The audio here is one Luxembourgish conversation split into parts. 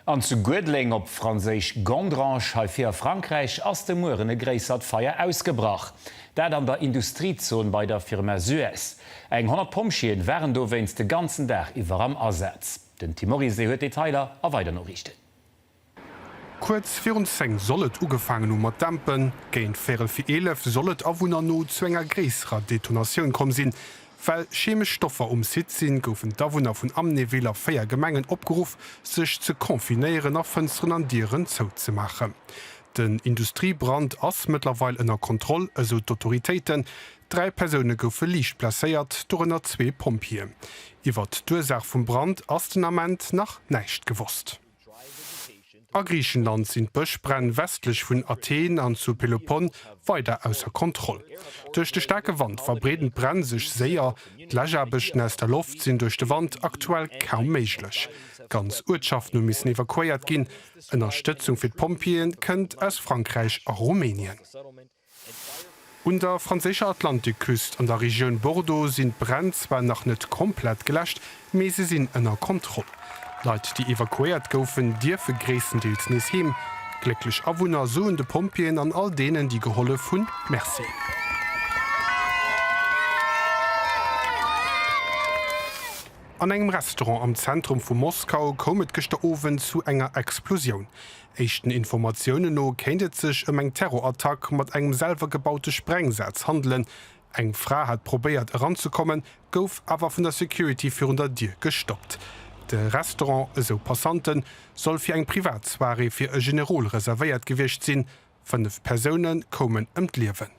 An zu Guedleng, op franséisch Gondrange, hei vir a Frankräich, ass de Mueren e gréissert Feier ausgebrach. Dat an der Industriezon bei der Firma Suez. Eng 100 Pompjeeën waren dowéinst de ganzen Dag iwwer am Asaz. Den Tim Morizet huet Detailer a weider Noriichten. Kuerz virun 10 soll et ugefaangen hu mat dämpen. Géint véierel vir 11 soll et Awunner no zu enger gréisserer Detonatioun komm sinn. Well chemesch Stoffer um Site sinn, goufen d'Awunner vun Amnéville a 4 Gemengen opgeruff, sech ze confinéieren a Fënsteren an Dieren zouzemaachen. Den Industriebrand ass mëttlerweil ënner Kontroll, esou d'Autoritéiten. Dräi Persoune goufe liicht blesséiert, dorënner zwee Pompjeeën. Iwwert d'Ursaach vum Brand ass den Ament nach näischt gewosst. A Griichenland sinn d'Bëschbränn westlech vun Athen an zu Pelopon weider ausser Kontroll. Duerch de staarke Wand verbreeden d'Bränn sech séier. D'Läschaarbechten aus der Loft sinn duerch de Wand aktuell kaum méiglech. Ganz Uertschaften hu missen evakuéiert ginn. Ënnerstëtzung fir d'Pompjeeë kënnt aus Frankräich a Rumänien. Un der franséischer Atlantikküst an der Regioun Bordeaux sinn d'Bränn zwar nach net komplett geläscht, mee se sinn ënner Kontroll. Leit, déi evakuéiert goufen, dierfe gréisstendeels nees heem. Glécklech Awunner soen de Pompjeeën an all deenen, déi gehollef hunn, Merci. An engem Restaurant am Zentrum vu Moskau koum et gëschter Owend zu enger Explosioun. Éischten Informatiounen no kéint et sech ëm eng Terrorattack mat engem selwer gebaute Sprengsaz handelen. Eng Fra hat probéiert eranzekommen, gouf awer vun der Security virun der Dier gestoppt. De Restaurant, esou Passanten, soll fir eng privat Soirée fir e Generol reservéiert gewiescht sinn, Fënnef Persoune koumen ëm d'Liewen.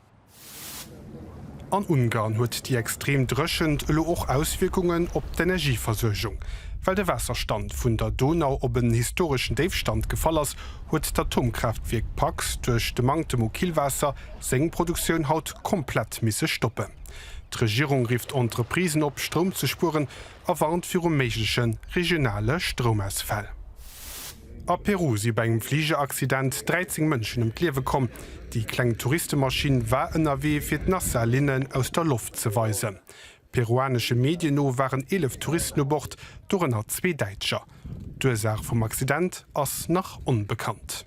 An Ungarn huet déi extrem Dréchent elo och Auswierkungen op d'Energieversuergung. Well de Waasserstand vun der Donau op en historeschen Déifstand gefall ass, huet d'Atomkraaftwierk Paks duerch de Manktem u Killwaasser seng Produktioun haut komplett misse stoppen. D'Regierung rifft Entreprisen op, Stroum ze spueren, a warnt viru méigleche regionale Stroumausfäll. A Peru si bei engem Fligeraccident 13 Mënschen ëm d'Liewe komm. Déi kleng Touristemaschinn war ënnerwee fir d'Nassa-Linnen aus der Loft ze weisen. Peruanesche Medien no waren 11 Touristen u Bord, dorënner zwee Däitscher. D'Ursaach vum Accident ass nach onbekannt.